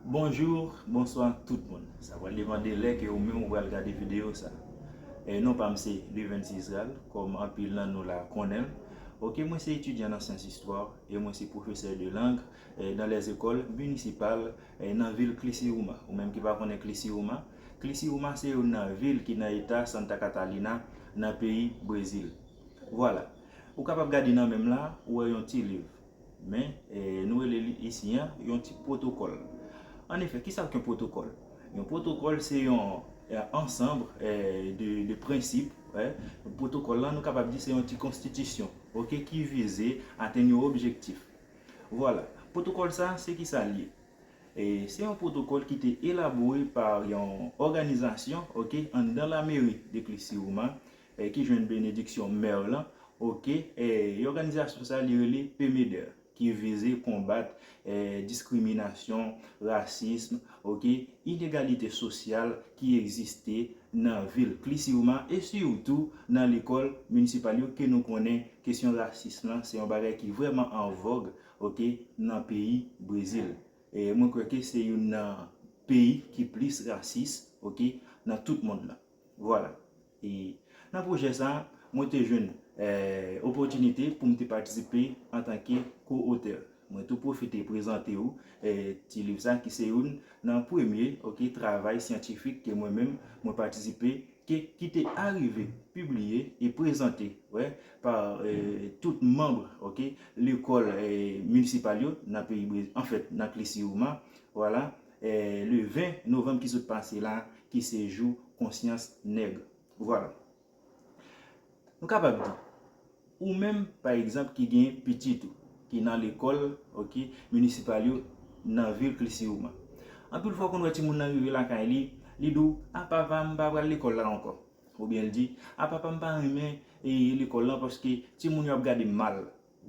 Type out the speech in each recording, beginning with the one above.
Bonjour, bonsoir tout moun sa pral depan de lè ke ou menm ou pral gade video sa e non pam se Luvency Israel kom anpil nan nou la konnenl ok mwen se etidyan nan syans istwa e mwen se pwofesè de lang nan lè zekol minisipal nan vil Klisiuma ou menm ki pa konnen Klisiuma Klisiuma se youn nan vil ki nan eta Santa Catalina nan peyi Brezil vwala ou kapab gade nan menm la ou wè yon ti liv Men, nou rele li isi an, yon tip pwotokòl. An efè, ki sa k yon pwotokòl? Yon pwotokòl se yon ansanb de prensip, yon pwotokòl lan nou kapab di se yon ti konstitisyon, ok, ki vize atenn yon objektif. Vwala, pwotokòl sa a se ki sa l ye? Se yon pwotokòl ki te elabore pa yon òganizasyon, ok, anndan lameri de Klisiwouma, ki jwenn benediksyon Merl lan ok e òganizasyon sa li rele PMEDER ki vize konbat diskriminasyon, rasism ok inegalite sosyal ki egziste nan vil Klisiwma e sitou nan lekòl minisipal yo ke nou konnen kesyon rasism lan se yon bagay ki vrèman an vòg ok nan peyi Brezil e mwen kwè ke se youn nan peyi ki plis rasis ok nan tout mond lan. Vwala. E nan pwojè sa a, mwen te jwenn opòtinite pou m te patisipe antanke ko-otè. Mwen tou pwofite prezante ou ti liv sa ki se youn nan premye travay syantifik ke mwen menm mwen patisipe ke ki te arive pibliye e prezante pa tout manb lekòl minisipal yo nan peyi Brezil, anfèt nan Klisiyouma. Vwala. le 20 novanm ki sot pase la ki se jou konsyans nèg vwala nou kapab di ou menm pa egzanp ki gen pitit ou ki nan lekòl ok minisipal yo nan vil klisiouman anpil fwa ou konn wè timoun nan rive lakay li li di w a papa m pa pral lekòl la ankò oubyen l di a papa m pa renmen lekòl la paske timoun yo ap gade m mal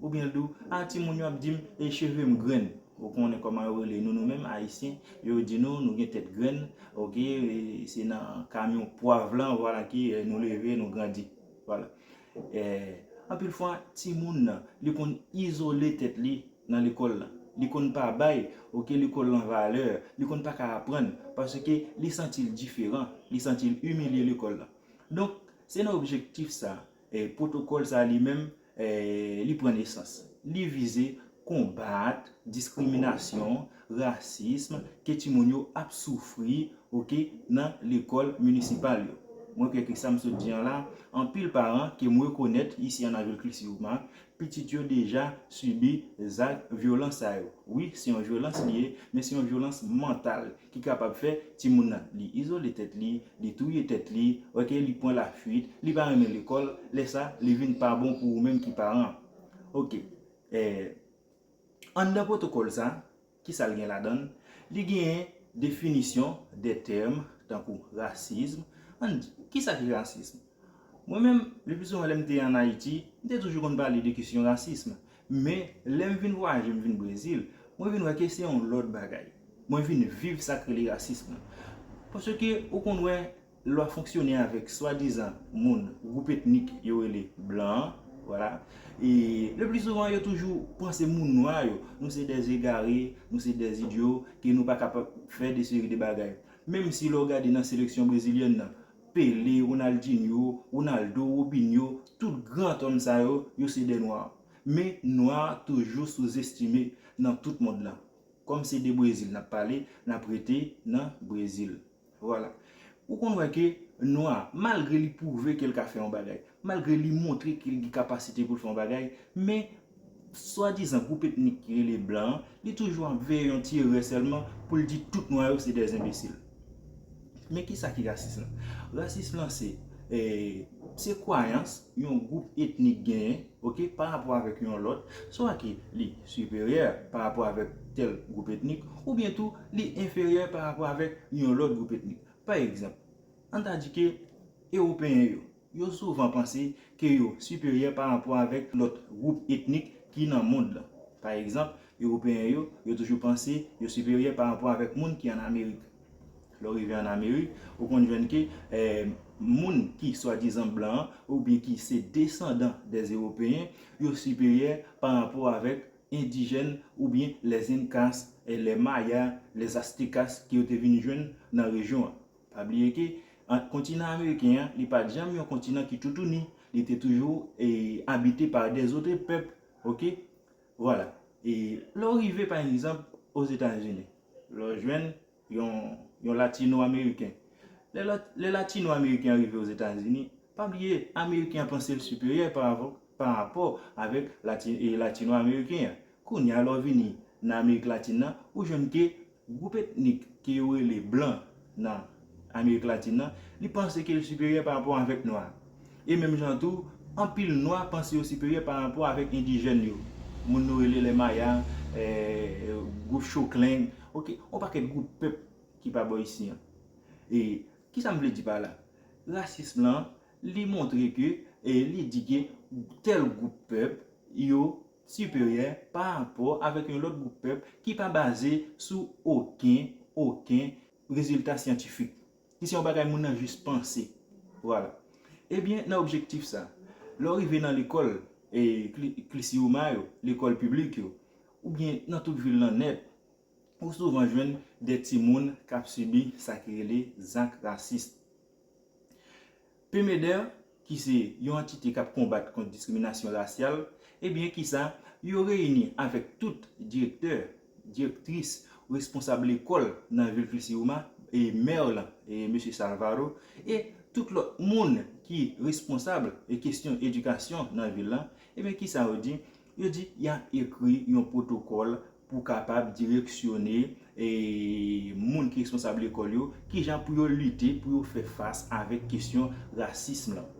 Ou byen l di w, ah ti moun yo ap di m e cheve m grenn. Ou konnen kòman yo rele nou nou menm ayisyen, yo di nou nou gen tèt grenn ok se nan kamyon pwav lan vwala ki nou leve nou grandi vwala. Anpil fwa ti moun nan li konn izole tèt li nan lekòl lan, li konn pa bay ok lekòl lan valè, li konn pa ka aprann paske li santi l diferan, li santi l imilye lekòl lan. Donk se nan objektif sa pwotokòl sa li menm li pran nesans. Li vize konbat diskriminasyon, rasism ke timoun yo ap soufri ok nan lekòl minisipal yo. Mwen kwè ke sa m sot di an la, anpil paran ke m rekonèt isi an Navil Klisiuma, pitit yo deja sibi zak vyolans sa yo. Wi, se yon vyolans li ye, men se yon vyolans mantal Ki kapab fè timoun nan li izole tèt li, li touye tèt li, ok, li pran lafuit, li pa renmen lekòl, lè sa li vin pa bon pou ou menm ki paran an. Ok, eh, anndan pwotokòl sa, ki sa l gen ladan l? Li genyen definisyon de tèm tankou rasism, ann di, ki sa ki rasism? Mwen menm, le pli souvan lè m te an Ayiti, m te toujou konn pale de kesyon rasism. Men, lè m vin vwayaje, m vin Brezil, mwen vin wè ke se yon lòt bagay. Mwen vin viv sa k rele rasism lan. Paske ou konn wè, lè w ap fonksyone avèk swadizan moun gwoup etnik yo rele blan an, vwala, e le pli souvan yo toujou panse moun nwa yo, nou se dè zegare, nou se dè idyo, ke nou pa kapab fè de seri de bagay. Menm si lè w gade nan seleksyon brezilyèn nan, Pele, Ronaldinho, Ronaldo, Robinho, tout gran tònn sa yo, yo se dè nwa. Men nwa toujou souzestime nan tout mond lan. Kòm se de Brezil n ap pale, n ap rete nan Brezil. Vwala. Ou konn wè ke nwa, malgre li pwouve ke l ka fè yon bagay, Malgre li montre ke li gen kapasite pou l fè yon bagay, men swadizan gwoup etnik ki rele blan an, li toujou ap veye yon ti erè sèlman pou l di tout nwa yo se dè enbesil. Men ki sa ki rasis lan? Rasis lan se, se kwayans yon gwoup etnik genyen, ok, pa rapò avèk yon lòt, swa ke li siperyè pa rapò avèk tèl gwoup etnik, oubyen tou li enferyè pa rapò avèk yon lòt gwoup etnik. Pa egzanp, an ta di ke ewopeyen yo, Yo souvan panse ke yo siperyè pa rapò avèk lòt gwoup etnik ki nan mond lan. Pa egzanp, Ewopeyen yo, yo toujou panse yo siperyè pa rapò avèk moun ki an Amerik. Lè w rive an Amerik, ou konn jwenn ke moun ki swadizan blan an, oubyen ki se desandan dè Ewopeyen, yo siperyè pa rapò avèk endijèn oubyen les Incas, les Mayas, les Aztecas ke yo te vin jwenn nan rejyon an. Pa bliye ke ant kontinan ameriken an, li pat janm yon kontinan ki toutouni, li te toujou abite pa de zotre pèp, ok, vwala. E lè w rive pa egzanp o Zetazini, lè w jwenn yon latino ameriken, lè latino ameriken an rive o Zetazini, pa bliye ameriken an panse l siperyè pa rapò avèk latino ameriken an, Kounya lè w vini nan Amerik Latin nan, ou jwenn ke gwoup etnik ke yo rele blan nan Amerik Latin nan, li panse ke l siperyè pa rapò avèk nwa. E menm jan tou, anpil nwa panse yo siperyè pa rapò avèk endijèn yo, moun nou rele lè maya, gwoup chokleng, ok, yon pakèt gwoup pèp ki pa bò isi an. E kisa m vle di pa la? Rasism lan, li montre ke, li di ke tèl gwoup pèp yo siperyè pa rapò avèk yon lòt gwoup pèp ki pa baze sou oken, oken, rezilta syantifik, ki se yon bagay moun nan jis panse. Vwala. Ebyen, nan objektif sa, lè w rive nan lekòl, e, kli, klisioma yo, lekòl piblik yo, oubyen nan tout vil lan nèt, ou souvan jwenn de timoun k ap sibi sa ki rele zak rasis. PMEDER, ki se yon antite k ap konbat kont diskriminasyon rasyal, ebyen kisa, yo reyini avèk tout direktè, direktris, responsab lekòl nan vil Criciúma, e mè w lan, Mesye Salvaro, e tout lòt moun ki responsab kestyon edikasyon nan vil lan, ebyen kisa yo di, Yo di y ap ekri yon pwotokòl pou kapab direksyone moun ki responsab lekòl yo kijan pou yo lite, pou yo fè fas avèk kesyon rasism lan.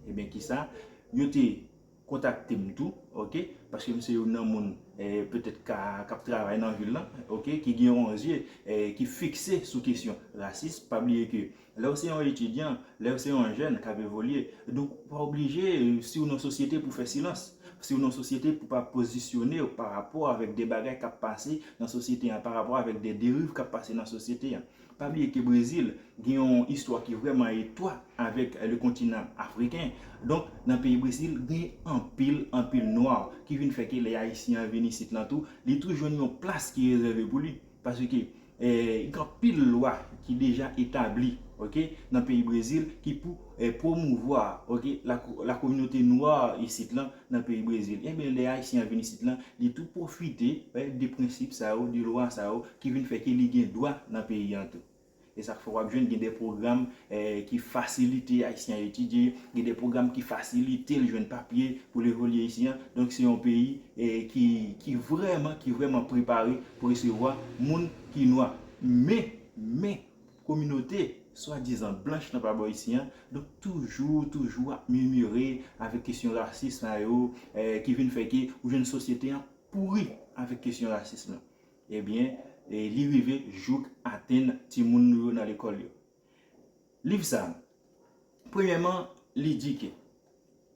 Ebyen kisa, yo te kontakte m tou, ok, paske m se youn nan moun petèt k ap travay nan vil lan, ok, ki gen yon zye ki fikse sou kesyon rasism. Pa bliye ke Lè w se yon etidyan, lè w se yon jèn k ap evolye, donk ou pa oblije si w nan sosyete pou w fè silans, si w nan sosyete pou w pa pozisyone w pa rapò avèk de bagay k ap pase nan sosyete an, pa rapò avèk de deriv k ap pase nan sosyete an. Pa bliye ke Brezil gen yon istwa ki vrèman etwa avèk le kontinan afriken, donk nan peyi Brezil gen anpil anpil nwa ki vin fè ke lè ayisyen an vin isit lan tou, li tou jwenn yon plas ki rezève pou li. Paske gen anpil lwa ki deja etabli ok nan peyi Brezil ki pou promouvwa ok la kominote nwa isit lan nan peyi Brezil enben lè ayisyen an vin isit lan li tou pwofite de prensip sa yo de lwa sa yo ki vin fè ke li gen dwa nan peyi an tou. E sa k fè w ap jwenn gen de pwogram ki fasilite Ayisyen an etidye, gen de pwogram ki fasilite l jwenn papye pou l evolye isi an. Donk se yon peyi ki vrèman, ki vrèman prepare pou resevwa moun ki nwa. Men, men, kominote swadizan blanch nan pa bò isi an, donk toujou, toujou ap mimire avèk kesyon rasis sa yo ki vin fè ke ou jwenn sosyete an pouri avèk kesyon rasism lan. Ebyen, li rive jouk atenn timoun nou yo nan lekòl yo. Liv sa a, premyèman, li di ke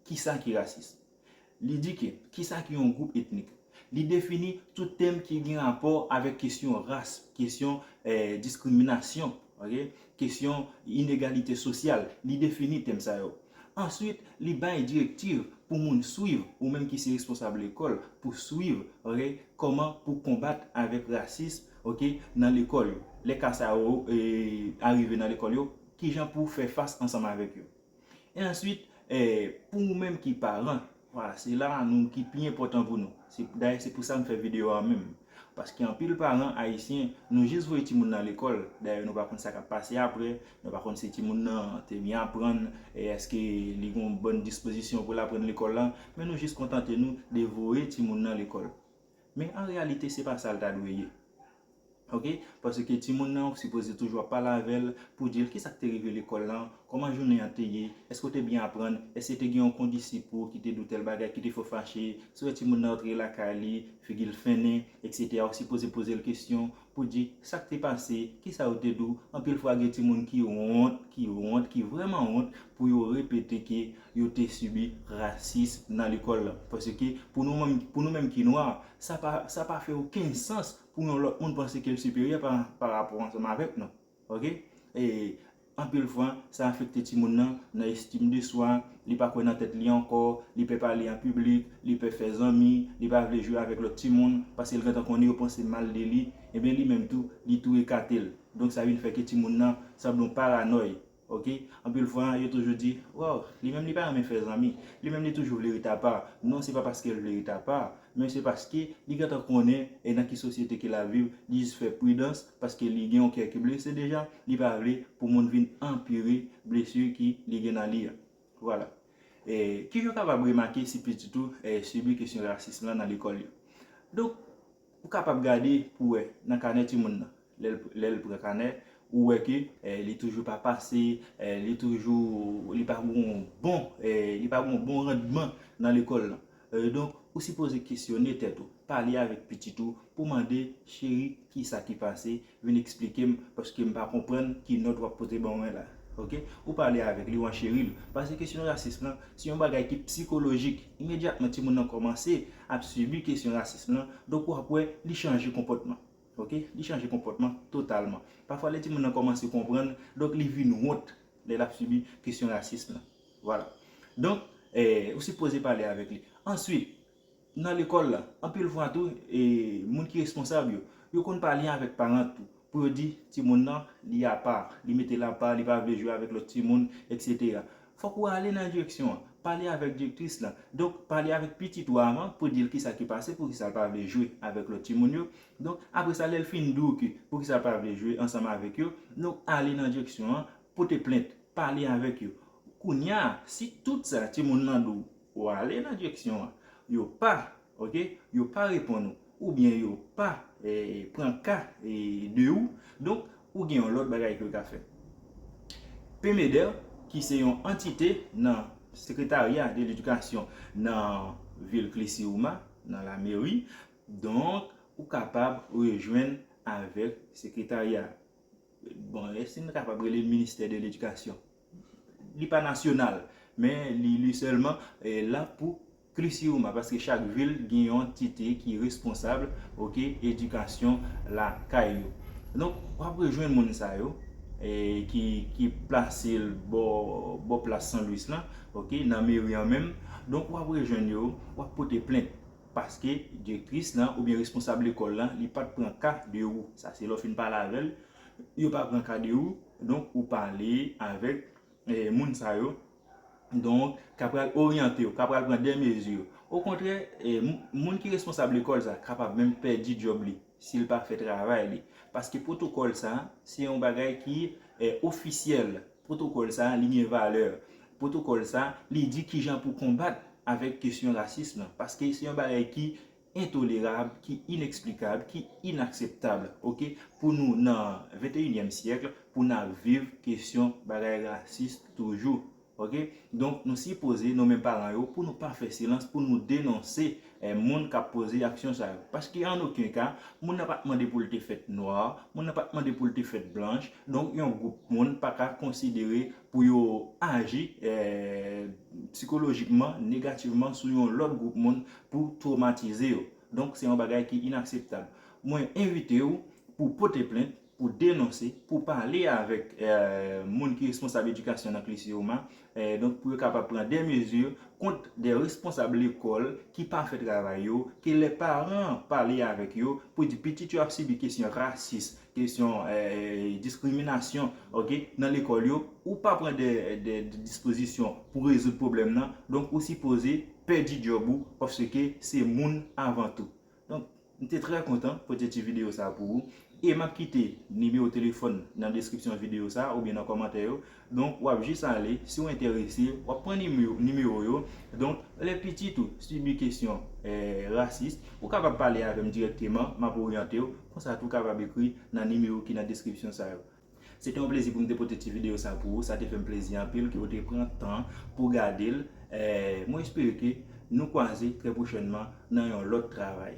kisa ki rasis. Li di ke kisa ki yon gwoup etnik. Li defini tout tèm ki gen rapò avèk kesyon ras, kesyon diskriminasyon, kesyon inegalite sosyal. Li defini tèm sa yo. Answit, li bay direktiv pou moun swiv, ou menm ki se responsab lekòl, pou swiv, ok, kòman pou konbat avèk rasism, ok, nan lekòl yo. Lè ka sa yo arive nan lekòl yo, kijan pou fè fas ansanm avèk yo. E answit, pou ou menm ki paran, Voilà, se la a nou ki pi enpòtan pou nou. Se dayè se pou sa m fè videyo a menm. Paske anpil paran ayisyen, nou jis voye timoun nan lekòl, dayè nou pa konn sa k ap pase aprè, nou pa konn si timoun nan te byen aprann, èske li gen yon bòn dispozisyon pou l aprann lekòl la, men nou jis kontante nou de voye timoun nan lekòl. Men an reyalite se pa sa l ta dwe ye ok paske timoun nan ou sipoze toujou ap pale avè l pou di l kisa k te rive lekòl lan, kòman jounen an te ye, èske ou te byen aprann, èske te gen yon kondisip ou ki te di w tèl bagay ki te fè w fache, si w wè timoun nan antre lakay li figi l fennen, eksetera ou sipoze poze l kesyon, Pou di, sa k te pase, ki sa yo te di w, anpil fwa gen timoun ki wont, ki wont, ki vrèman wont pou yo repete ke yo te sibi rasis nan lekòl lan. Paske pou nou menm, pou nou menm ki nwa, sa pa, sa pa fè okenn sans pou yon lòt moun panse ke l siperyè pa, pa rapò ansanm avèk nou. Ok e anpil fwa sa afekte timoun nan nan estim de swa, li pa kwè nan tèt li ankò, li pè pale an piblik, li pè fè zanmi, li pa vle jwe avèk lòt timoun paske li gentan konnen yo panse mal de li, ebyen li menm tou li tou ekate l. Donk sa vin fè ke timoun nan sanble yon paranòy. Ok anpil fwa yo toujou di waw li menm li pa renmen fè zanmi, li menm li toujou vle ret apa, non se pa paske l vle ret apa men se paske li gentan konnen nan ki sosyete ke l ap viv, li jis fè pridans paske li gen yon kè ki blese deja li pa vle pou moun vin anpire blessure ki li gen nan li a vwala kijan ou kapab remake si pitit ou sibi kesyon rasism lan nan lekòl yo donk ou kapab gade pou wè nan kanè timoun nan lèl pran kanè ou wè ke li toujou pa pase li toujou li pa gon bon li pa gon bon randman nan lekòl lan Donk, ou sipoze kesyone tèt ou, pale avèk pitit ou pou mande, Cheri, kisa ki pase? Vin eksplike m, paske m pa konprann ki nòt w ap pote ban mwen la. Ok? Ou pale avèk li, ou ancheri l. Pase kesyon rasism lan, se yon bagay ki psikolojik. Imedyatman timoun nan kòmanse ap sibi kesyon rasism lan, donk ou ap wè li chanje konpòtman. Ok? Li chanje konpòtman totalman. Pafwa lè timoun nan kòmanse konprann, donk li vin wont lè l ap sibi kesyon rasism lan. Vwala. Donk, ou sipoze pale avèk li. Answit, nan lekòl la, anpil fwa tou, moun ki responsab yo, yo konn pale avèk paran tou, pou yo di, timoun nan, li apa, li mete l apa, li pa vle jwe avèk lòt timoun, eksetera. Fòk ou ale nan direksyon an. Pale avèk direktris lan. Donk, pale avèk pitit ou avan, pou di l kisa ki pase, poukisa l pa vle jwe avèk lòt timoun yo. Donk, apre sa, lè l fin di w ki, poukisa l pa vle jwe ansanm avèk yo, donk, ale nan direksyon an, Pote plent, pale avèk yo. Kounya si tout sa timoun nan di w, ou ale nan direksyon an, yo pa, ok, yo pa reponn ou, oubyen yo pa pran ka de ou, donk ou gen yon lòt bagay ke w ka fè. PMEDER ki se yon antite nan sekretarya de ledikasyon nan vil Klisiwouma, nan la meri, donk ou kapab rejwenn avèk sekretarya a. Bon, èske n kapab rele l ministè de ledikasyon? Li pa nasyonal, men li sèlman la pou Krisiyouma, paske chak vil gen yon antite ki responsab edikasyon lakay yo. Donk, w ap rejwenn moun sa yo ki plase bò plas San Lwis lan, nan meri an menm. Donk, w ap rejwenn yo, w ap pote plent. paske direktris lan oubyen responsab lekòl lan li pat pran ka de ou, sa se lè w fin pale avèl, yo pa pran ka de ou, donk ou pale avèk moun sa yo, donk ka pral oryante w, ka pral pran dè mezi, okontrè moun ki responsab lekòl sa kapab menm pèdi djòb li si l pa fè travay li, paske pwotokòl sa se yon bagay ki ofisyèl. Pwotokòl sa li gen valè. Pwotokòl sa li di kijan pou konbat avèk kesyon rasis lan. Paske se yon bagay ki entolerab, ki ineksplikab, ki inakseptab ok. Pou nou nan venteyinyèm syèkl pou n ap viv kesyon bagay rasis toujou ok. Donk nou sipoze nou menm paran yo pou nou pa fè silans pou nou denonse Moun k ap poze aksyon sa yo. Paske an oken ka, moun nan pa t mande pou l te fèt nwa, moun nan pa t mande pou l te fèt blanch, donk yon gwoup moun pa ka konsidere pou yo aji psikolojikman, negativman sou yon lòt gwoup moun pou twomatize yo. Donk se yon bagay ki inakseptab. Mwen envite ou pou w pote plent pou denonse, pou pale avèk moun ki responsab edikasyon nan Klisioma, donk pou yo kapab pran de mezi kont de responsab lekòl ki pa fè travay yo, ke lè paran pale avèk yo pou di pitit yo ap sibi kesyon rasis, kesyon diskriminasyon ok, nan lekòl yo, ou pa pran de dispozisyon pou rezoud pwoblèm nan, donk ou sipoze pèdi djòb ou paske se moun avan tou. Donk m te trè kontan pote ti videyo sa pou ou e m ap kite nimewo telefòn nan deskripsyon videyo sa oubyen nan kòmantè yo donk w ap jis ale si w enterese w ap pran nimewo yo donk lè pitit ou sibi kesyon rasis ou kapab pale avè m dirèkteman m ap oryante w konsa tou w kapab ekri nan nimewo ki nan deskripsyon sa yo. Se te yon plezi pou m te pote ti videyo sa pou ou, sa te fè m plezi anpil ke ou te pran tan pou gade l, mwen espere ke nou kwaze trè pwochènman nan yon lòt travay.